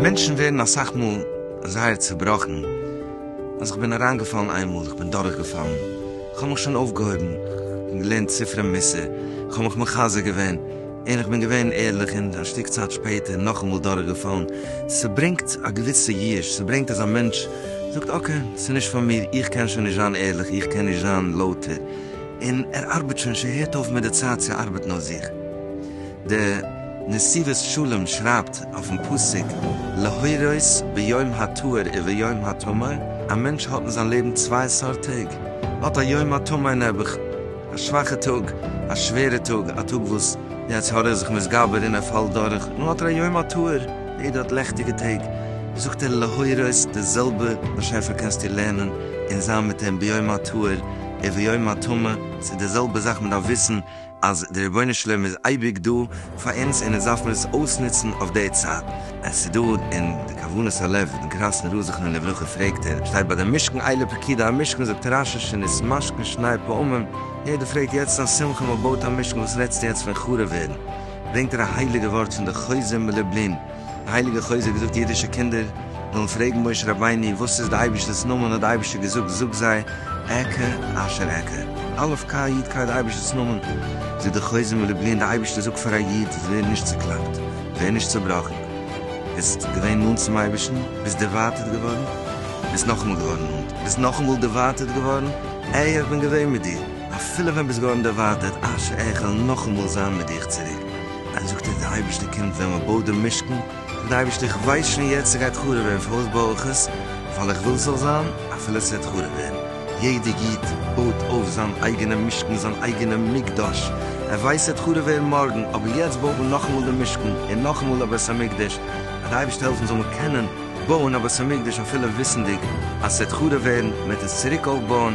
מענטשן ווערן אסאך מאל זייער צעבראכן, אז כ'בין אריינגעפאלן איינמאל, כ'בין דורכגעפאלן, כ'האב מיך שוין אויפגעהויבן, כ'בין געלערנט ספרי מוסר, כ'האב מיך מחזק געווען, און כ'בין געווען ערליך און א שטיק צייט שפעטער נאכאמאל דורכגעפאלן. ס'ברענגט א געוויסע יאוש, ס'ברענגט אז א מענטש זאגט אקעי, ס'נישט פאר מיר, איך קען שוין נישט זיין ערליך, איך קען נישט זיין לויטער. און ער ארבעט שוין, ס'הערט אויף מיט די צייט צו ארבעטן אויף זיך. דער נסיבות שלום שרייבט אויפן פסוק להורות ביום הטהור וביום הטמא, א מענטש האט אין זיין לעבן צוויי סארט טעג, האט א יום הטמא נעבעך, א שוואכע טאג, א שווערע טאג, א טאג וואס די יצר הרע איז זיך מתגבר און ער פאלט דורך, נו האט ער א יום הטהור, יעדער האט לעכטיגע טעג, זאגט ער להורות, די זעלבע באשעפער קענסטו לערנען און זיין מיט אים ביום הטהור וביום הטמא, ס'איז די זעלבע זאך, מ'דארף וויסן אז די רבונו של עולם איז אייביג דא, פאר אונז און אונז דארף מיר עס אויסנוצן אויף די צייט. עס איז דא אין די כוונת הלב פון קראסנער ר' זכרונו לברכה פרעגט ער שטייט ביי די משכן איילה פקידה המשכן זאגט רש ש שנית משכן שני פעמים יעדער פרעגט יעצט א שמחה מען בויט א משכן וואס רעדסטו יעצט פון חרוב ווערן ברענגט ער א הייליגע ווארט פון די חוזה מלובלין די הייליגע חוזה האט געזאגט אידישע קינדער זאלן פרעגן משה רבינו וואס איז די אייבערשטער'ס נאמען האט די אייבערשטער געזאגט זאג זיי ע כ אשר ע כ א' כ י' כ איז די אייבערשטער'ס נאמען זאגט די חוזה מלובלין די אייבערשטער זאגט פאר א איד ווער נישט צוקלאפט ווער נישט צובראכן ביסט געווען נאנט צום אייבערשטן ביסט דערווייטערט געווארן ביסט נאכאמאל געווארן נאנט ביסט נאכאמאל דערווייטערט געווארן ע י איך בין געווען מיט דיר אפילו ווען ביסט געווארן דערווייטערט אשר ע כ איך וועל נאכאמאל זיין מיט דיך צוריק. און זאגט ער, דער אייבערשטער קומט ווען מען בויט דעם משכן, זאגט דער אייבערשטער, איך ווייס שוין יעצט ס'גייט חרוב ווערן, פארוואס בוי איך עס? ווייל איך וויל ס'זאל זיין אפילו ס'וועט חרוב ווערן. יעדער איד בויט אויף זיין אייגענעם משכן, זיין אייגענעם מקדש, ער ווייסט ס'וועט חרוב ווערן מארגן, אבער יעצט בויט מען נאכאמאל דעם משכן, און נאכאמאל א בית המקדש, אז דער אייבערשטער העלפן זאל מען קענען בויען א בית המקדש אפילו וויסנדיג אז ס'וועט חרוב ווערן, מען וועט עס צוריק אויפבויען,